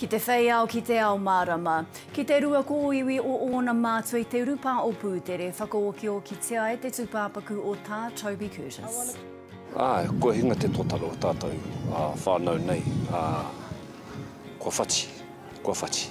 Ki te whei ao, ki te ao mārama. Ki te rua kōiwi o ōna mātua i te urupā o Pūtere, whakaokiokitia e te tūpāpaku o Tā Toby Curtis. Āe, kua hinga te totara o tātou whānau nei, ā, kua whati, kua whati.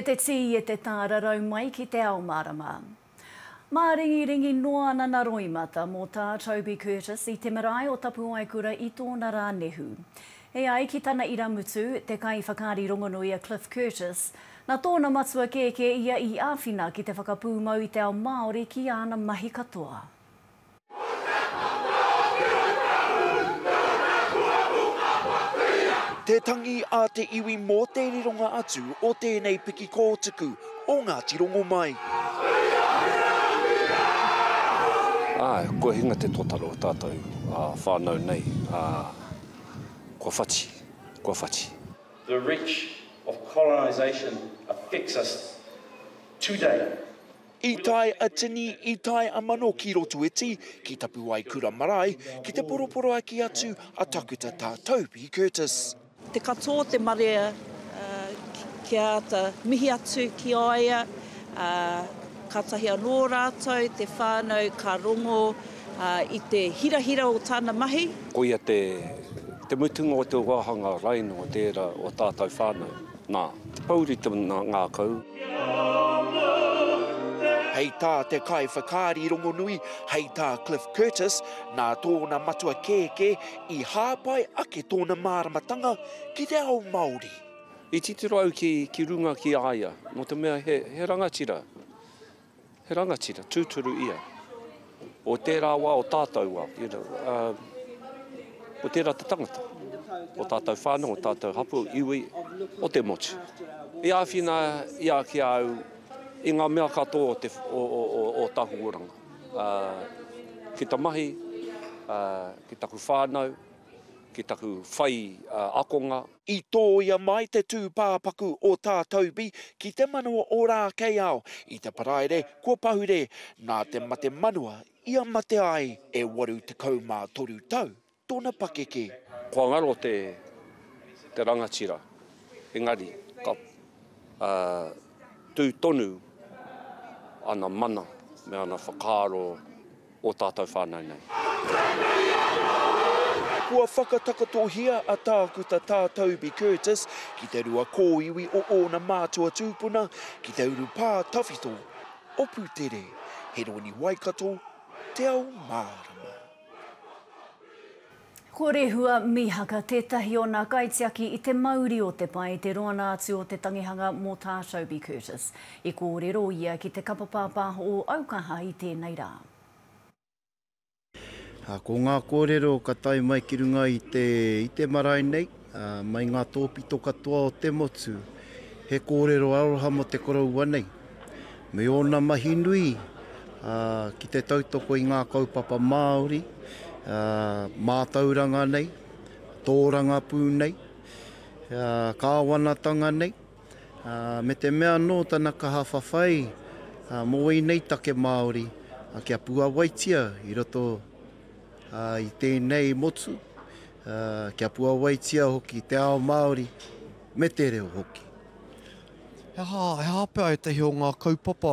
E te tī, e te tā rarau mai ki te ao mārama. Māringiringi noa ana na Roimata mō tā Toby Curtis i te marae o Tapuaekura i tōna rā nehu. E ai ki tana irāmutu, te kaiwhakaari rongonui a Cliff Curtis, nā tōna matua kēkē ia i āwhina ki te whakapūmau i te ao Māori ki āna mahi katoa. Te tangi a te iwi mō te rironga atu o tēnei piki kōtuku o Ngāti Rongomai. Āe, kua hinga te totara o tātou whānau nei, ā. Kua whati, kua whati. The reach of colonisation affects us today. I tae a tini, i tae a mano ki Rotoiti, ki Tapuwaekura marae, ki te poroporoaki atu a Takuta Tā Toby Curtis. Te katoa o te marea kia āta mihi atu ki a ia, kātahi anō rātou, te whānau ka rongo. Ā, i te hirahira o tāna mahi. Koia te, te mutunga o te wāhanga raino o tērā o tātou whānau. Nā, te pōuri te ngākau. Hei tā te kaiwhakaari rongonui, hei tā Cliff Curtis, nā tōna matua kēkē i hāpai ake tōna māramatanga ki te ao Māori. I titiro au ki, ki runga ki a ia, nō te mea he, he rangatira, He rangatira tūturu ia. O tērā wā, o tātou wā, you know, uh, o tērā te tangata, o tātou whānau, o tātou hapū, iwi, o te motu. I āwhina i a ki au i ngā mea katoa o, te, o, o, o, o Tahuoranga. Uh, ki ta mahi, uh, ki taku whānau, ki taku whai uh, akonga, I tōia mai te tūpāpaku o Tā Toby ki te manawa o Rākeiao i te Paraire kua pahure nā te mate manua i a mate ai e 83 tau tōna pakeke. Kua ngaro te te rangatira engari ka tū tonu ana mana me ana whakaaro. o tātou whānau nei. Kua whakatakatohia a Tākuta Tā Toby Curtis ki te rua kōiwi o ōna mātua tūpuna ki te urupā tawhito o Putere, Heroni Waikato, Te Ao Mārama. Ko Rehua Mihaka tētahi o nā kaitiaki i te mauri o te pae te roana atu o te tangihanga mō tā Toby Curtis. I kōrero ia ki te kapa pāpāho o Aukaha i tēnei rā. Ko ngā kōrero ka tae mai ki runga i te marae nei. Mai ngā tōpito katoa o te motu, he kōrero aroha mō te koroua nei, me ōna mahi nui ki te tautoko i ngā kaupapa Māori, mātauranga nei, tōrangapū nei, kāwanatanga nei, me te mea anō tana kaha whawhai mō ēnei take Māori kia puawaitia i roto i tēnei motu, Kia puawaitia hoki te ao Māori me te reo hoki. He aha, he aha pea ētahi o ngā kaupapa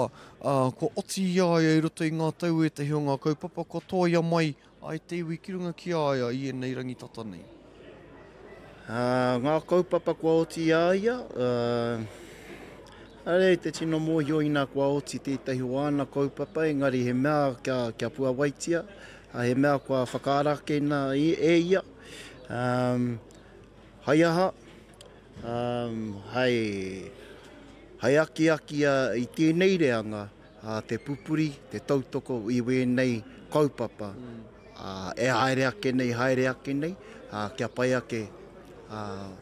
kua oti i a ia i roto i ngā tau, ētahi o ngā kaupapa kua tōia mai ai te iwi ki runga ki a ia i ēnei rangi tata nei? Ngā kaupapa kua oti i a ia, āe te tino mōhio ina kua oti tētahi o āna kaupapa engari he mea kia puawaitia, Ā, he mea kua whakaarakeina e ia, hai aha, hai akiaki i tēnei reanga te pupuri, te tautoko i wēnei kaupapa e haere ake nei, haere ake nei, kia pai ake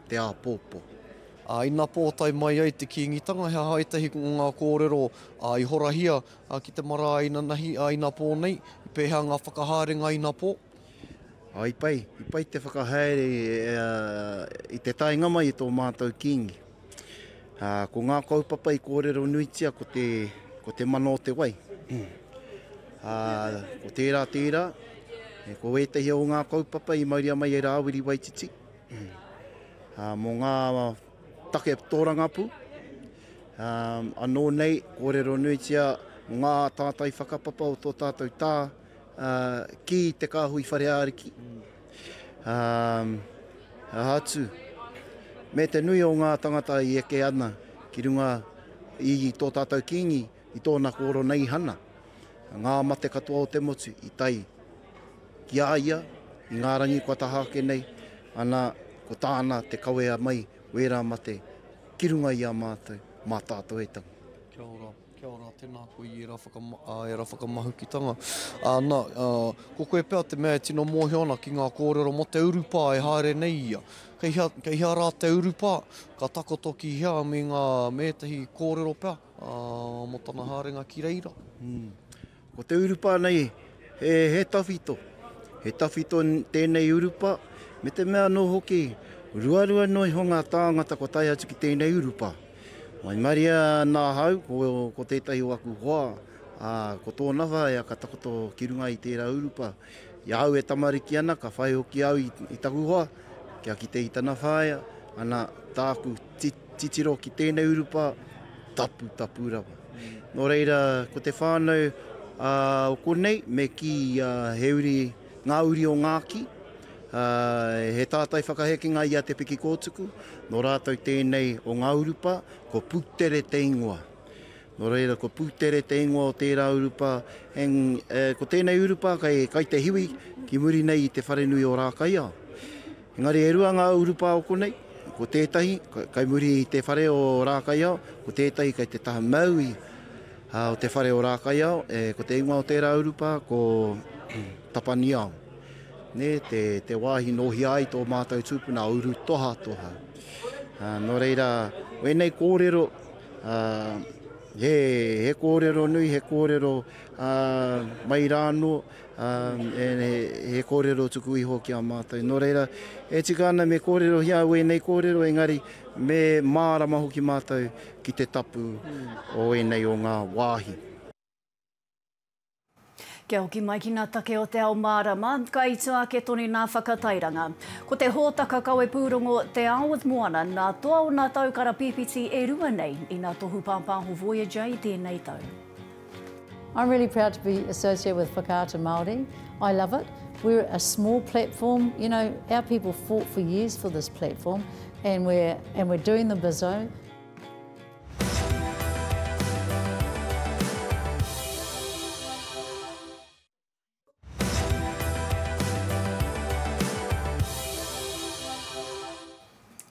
te āpōpō. Ā, ina pōtae mai ai te Kīngitanga, he aha ētahi o ngā kōrero i horahia A ki te marae inanahi a Inapō nei, i pēhea ngā whakahaerenga a Inapō? A, i pai, i pai te whakahaere i te taenga mai i tō mātou Kīngi. A, ko ngā kaupapa i kōrero nuitia ko te, ko te mana o te wai. A, ko tērā, tērā, ko ētahi o ngā kaupapa i mauria mai e Rāwiri Waititi, a, mō ngā, Take tōrangapū, anō nei kōrero nuitia ngā tātai whakapapa o tō tātou tā ki te kāhui whare āriki, aha atu, me te nui o ngā tāngata i eke ana ki runga i tō tātou Kīngi. I tōna kōrero nei i Hana, ngā mate katoa o te motu i tae ki a ia, i ngā rangi kua taha ake nei, ana, ko tāna te kawea mai wērā mate ki runga i a mātou, mā tātou e tangi. Kia ora, kia ora, tēnā koe i ērā whakama, ērā whakamahukitanga. Ana, ko koe pea te mea e tino mōhio ana ki ngā kōrero mō te urupā e haere nei ia. Kei hea, kei hea rā te urupā, ka takoto ki hea me ngā, me ētahi kōrero pea? Ā, mō tana haerenga ki reira. Ko te urupa nei, he, he tawhito. He tawhito tēnei urupa, me te mea anō hoki, ruarua noa iho ngā tāngata kua tae atu ki tēnei urupa. Waimaria ana ahau, ko, ko tētahi o aku hoa, ā, ko tōna whaea ka takoto ki runga i tērā urupa. I ahau e tamariki ana, ka whai hoki au i, i taku hoa, kia kite i tana whaea, ana, tāku, ti, Titiro ki tēnei urupa, tapu, tapu rawa. Nō reira, ko te whānau ā, o konei, me kī ā, he uri, ngā uri o Ngāki, ā, he tātai whakahekenga i a Te Pikikōtuku, nō rātou tēnei o ngā urupa, ko Putere te ingoa. Nō reira, ko Pūtere te ingoa o tērā urupā, ko tēnei urupā kei Kaitehiwi, ki muri nei i te wharenui o Rākaiao. Engari e rua ngā urupā o konei, ko tētahi kei muri i te whare o Rākaiao, ko tētahi kei te taha maui o te whare o Rākaiao, ko te ingoa o tērā urupā ko Tapaniao. Nē, te wāhi nō hea ai tō mātou tūpuna a Urutohatoha. Nō reira, wēnei kōrero, Ā, he, he kōrero nui, he kōrero, ā, mai rā anō, ā, he, he kōrero tuku iho ki a mātou. Nō reira, e tika ana me kōrerohia au ēnei kōrero, engari me mārama hoki mātou ki te tapu o ēnei o ngā wāhi. Kia hoki mai ki ngā take o te ao mārama, ka ito ake tonu ngā whakatairanga. Ko te hōtaka kawe pūrongo Te Ao with Moana nā toa o ngā tau karapīpiti e rua nei i ngā tohu pāpāho Voyager i tēnei tau. I'm really proud to be associated with Whakaata Māori. I love it. We're a small platform. You know, our people fought for years for this platform and we're, and we're doing the bizzo.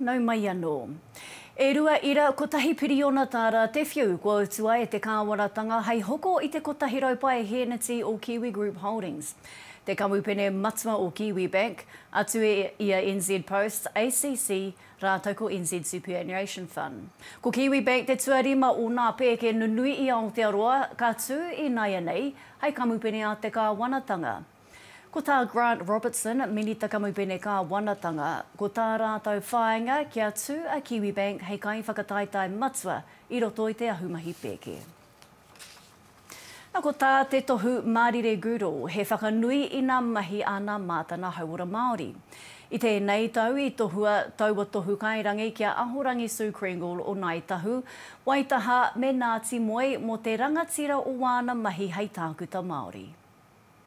Nau mai anō. E rua ira, kotahi piriona tā rā te whiu kua utua e te kāwanatanga hei hoko i te 100 pae hēneti o Kiwi Group Holdings. Te kamupene matua o Kiwibank, atu i a NZ Post, ACC, rātou ko NZ Superannuation Fund. Ko Kiwibank te tuarima o nā pēke nunui i Aotearoa ka tū inaianei hai kamupene a te kāwanatanga. Ko tā Grant Robertson, Minita Kamupene Kāwanatanga, ko tā rātou whāinga kia tū a Kiwibank hei kaiwhakataetae matua i roto i te ahumahi pēke. Na ko tā te tohu Mārire Goodall, he whakanui i nā mahi a nā Mātana Hauora Māori. I tēnei tau i tohua taua tohu kairangi ki a Ahorangi Sue Kringle o Ngāi Tahu, Waitaha me Ngāti Moe mō te rangatira o wāna mahi hei tākuta Māori.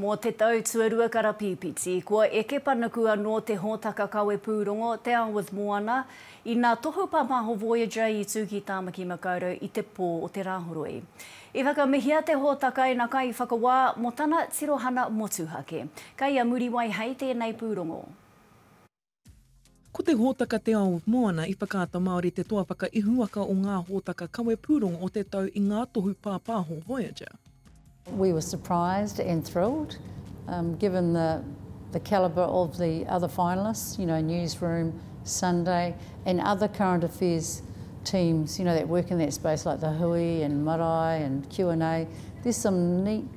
Mō te tau tuarua karapīpiti, kua eke panuku anō te hōtaka kawepūrongo Te Ao with Moana, ina tohu pāpāho Voyager i tū ki Tāmaki Makaurau i te pō o te Rāhoroi. I whakamihia te hōtaka ina kaiwhakawā mō tana tirohana motuhake. Kei a Muriwai hei tēnei pūrongo. Ko te hōtaka Te Ao Moana i Whakaata Māori te toa whakaihuwaka o ngā hōtaka kawe pūrongo o te tau i ngā tohu pāpāho Voyager. We were surprised and thrilled um given the the calibre of the other finalists, you know, Newsroom, Sunday and other current affairs teams, you know, that work in that space like The Hui and Marae and Q and A. There's some neat.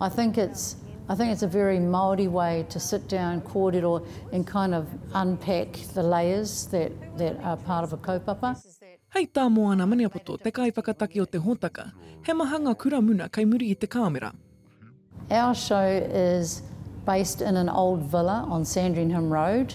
I think it's I think it's a very Māori way to sit down, kōrero and kind of unpack the layers that that are part of a kaupapa. Hei tā Moana Maniapoto, te kaiwhakataki o te hōtaka, he maha ngā kura muna kei muri i te kāmera. Our show is based in an old villa on Sandringham Road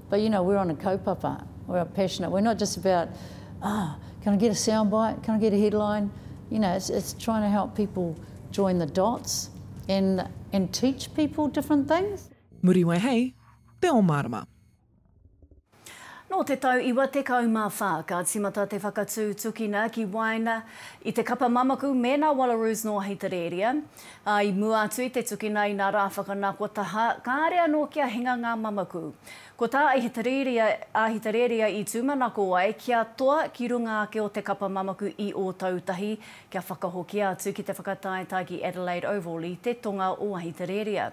But you know, we're on a kaupapa, we're a passionate, we're not just about, ah, can I get a sound bite, can I get a headline, you know, it's, it's trying to help people join the dots and, and teach people different things. Muriwai hei te o marama. Nō te tau 94 ka tīmata te whakatū tukina ki waena i te kapa mamaku mēnā Wallaroos nō Ahitereria. Ā, i mua atu i te tukina i ngā rā whakanako taha, kāre anō kia hinga ngā mamaku. Ko tā Ahitereiria, Ahitereiria i tūmanako ai kia toa ki runga ake o te kapa mamaku i Ōtautahi, kia whakahokia atu ki te whakataetae ki Adelaide Oval i te tonga o Ahitereiria.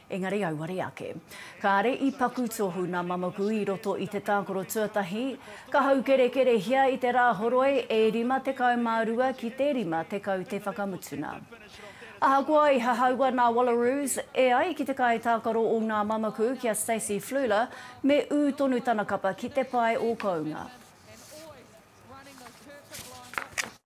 Engari auare ake. Kāre i paku tohu nā Mamaku i roto i te tākoro tuatahi, ka haukerekerehia i te Rāhoroi e 52 ki te 50 te whakamutuna. Ahakoa i hahaua nā Wallaroos e ai ki te kaitākaro o ngā Mamaku ki a Stacey Fluhler, me ū tonu tana kapa ki te pae o kounga.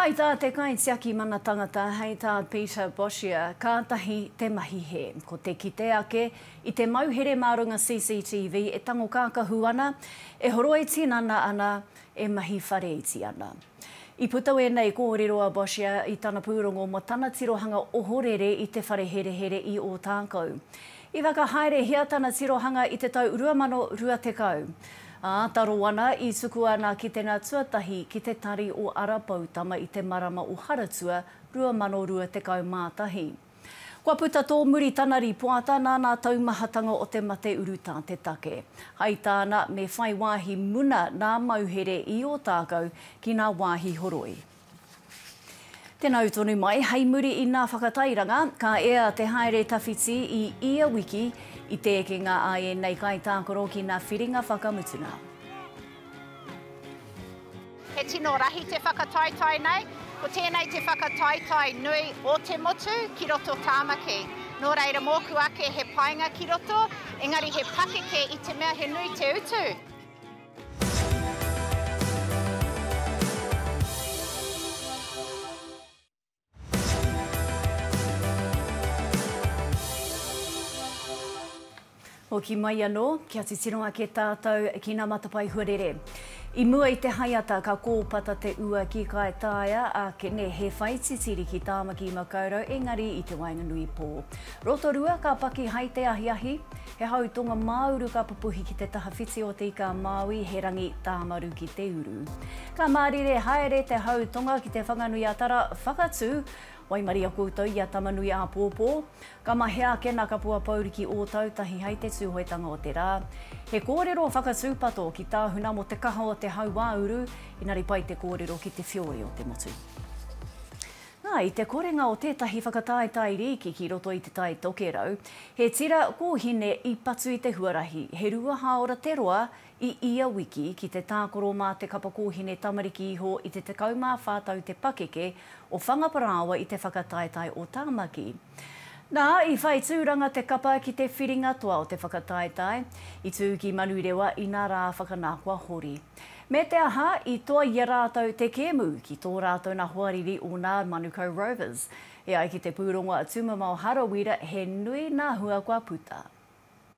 Hai tā te kaitiaki mana tangata, hei tā Peter Boshier, kātahi te mahi hē. Ko te kite ake i te mauhere mā runga CCTV e tango kākahu ana, e horoi tinana ana, e mahi whare iti ana. I puta wēnei kōrero a Boshier i tana pūrongo mō tana tirohanga ohorere i te whare herehere i Ōtākou. I whakahaerehia tana tirohanga i te tau 2020, ā, taro ana i tukua nā Kitenga tuatahi ki te Tari o Ara Poutama i te marama o Haratua 2021. Kua puta tōmuri tana rīpoata nā nā taumahatanga o te mate urutā te take. Hai tāna me whai wāhi muna nā Mauhere i Ōtākou ki nā wāhi horoi. Tena u tonu mai, hei muri i na whakatairanga, ka ea te haere tawhiti i ia wiki i te ekenga a enei kaitākaro ki na whiringa whakamutuna. He tino rahi te whakataetae nei. Ko tēnei te whakataetae nui o te motu ki roto Tāmaki. Nō reira mōku ake he painga ki roto, engari he pakeke i te mea he nui te utu. Hoki mai anō, kia titiro ake tātou ki nā matapae huarere. I mua i te haeata ka kōpata te ua ki Kaitaia, a Kene he whai titiri ki Tāmaki i Makaurau engari i te waenganui pō. Rotorua ka paki hai te ahiahi, He hau tonga māuru ka pupuhi ki te taha whiti o Te Ika-a-Māui, he rangi tāmaru ki te uru. Ka mārire haere te hau tonga ki Te Whanganui-a-Tara, whakatū, waimaria koutou i a Tamanui-āpōpō. Ka mahea ake nā Kapua Pouri ki Ōtautahi hei te Tūhoetanga o te Rā. He kōrero whakatūpato ki tāhuna mō te kaha o te hau wāuru, engari pai te kōrero ki te whioi o te motu. Ā, i te korenga o tētahi whakataetae rīki ki roto i Te Tai Tokerau, he tira kōhine i patu i te huarahi, he rua hāora te roa i ia wiki, ki te tākoro mā te kapa kōhine tamariki iho i te 14 tau te pakeke o Whangaparāoa i te whakataetae o Tāmaki. Nā, i whai tūranga te kapa ki te whiringa toa o te whakataetae, i tū ki Manurewa ina rā whakanākoa hori. Me te aha, i toa i a rātou te kēmu ki tō rātou nā hoariri o nā Manukau Rovers. E ai ki te pūrongo a Tumamao Harawira he nui nā hua kua puta.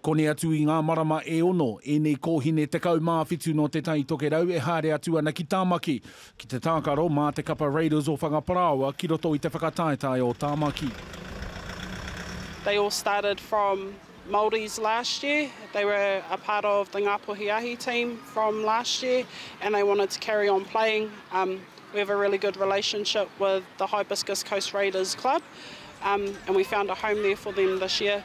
Koni atu i ngā marama e ono, ēnei kōhine 17 nō Te Tai Tokerau e haere atu ana ki Tāmaki, ki te tākaro mā te kapa Raiders o Whangaparāoa ki roto i te whakataetae o Tāmaki. They all started from Maldives last year, they were a part of the Ngāpuhi Ahi team from last year and they wanted to carry on playing, um we have a really good relationship with the Hibiscus Coast Raiders club um and we found a home there for them this year.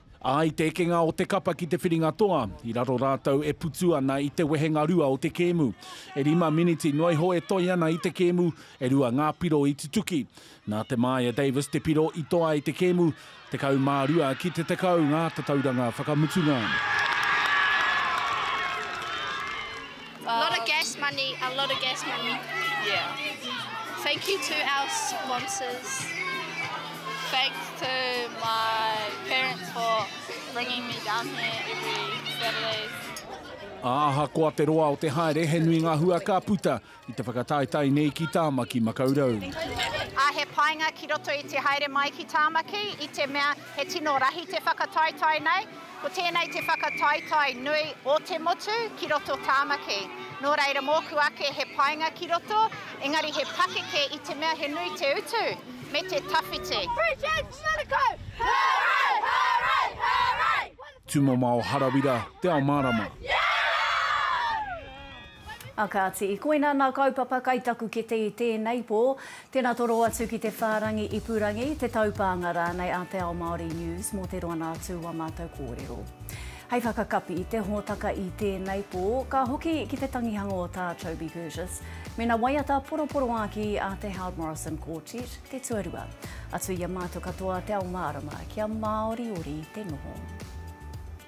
Ā, i te ekenga o te kapa ki te whiringa toa, i raro rātou e putu ana i te wehenga rua o te kēmu. E rima miniti noa iho e toe ana i te kēmu, e rua ngā piro i tutuki. Nā Te Māia Davis te piro i toa ai te kēmu, 12 ki te 10 ngā tatauranga whakamutunga. A lot of gas money, a lot of gas money. Yeah. Thank you to our sponsors. Thanks to my parents for bringing me down here every Saturday. Ā, ahakoa te roa o te haere, he nui ngā hua ka puta i te whakataetae nei ki Tāmaki Makaurau. Ā, he painga ki roto i te haere mai ki Tāmaki i te mea He tino rahi te whakataetae nei. Ko tēnei te whakataetae nui o te motu ki roto Tāmaki. Nō reira mōku ake he painga ki roto, engari he pakeke i te mea he nui te utu me te tawhiti. Free James Manukau! Hooray! Hooray! Hooray! Tumomao Harawira, Te Ao Mārama. A kāti, koina nā kaupapa kai taku kete i tēnei pō. Tēnā toro atu ki te whārangi ipurangi, te taupānga rānei a Te Ao Māori News mō te roanga atu o ā mātou kōrero. Hei whakakapi i te hōtaka i tēnei pō, ka hoki ki te tangihanga o Tā Toby Curtis mēnā waiata poroporoākī a te Howard Morrison Quartet te tuarua. Atu i a mātou katoa te ao mārama kia māoriori te noho.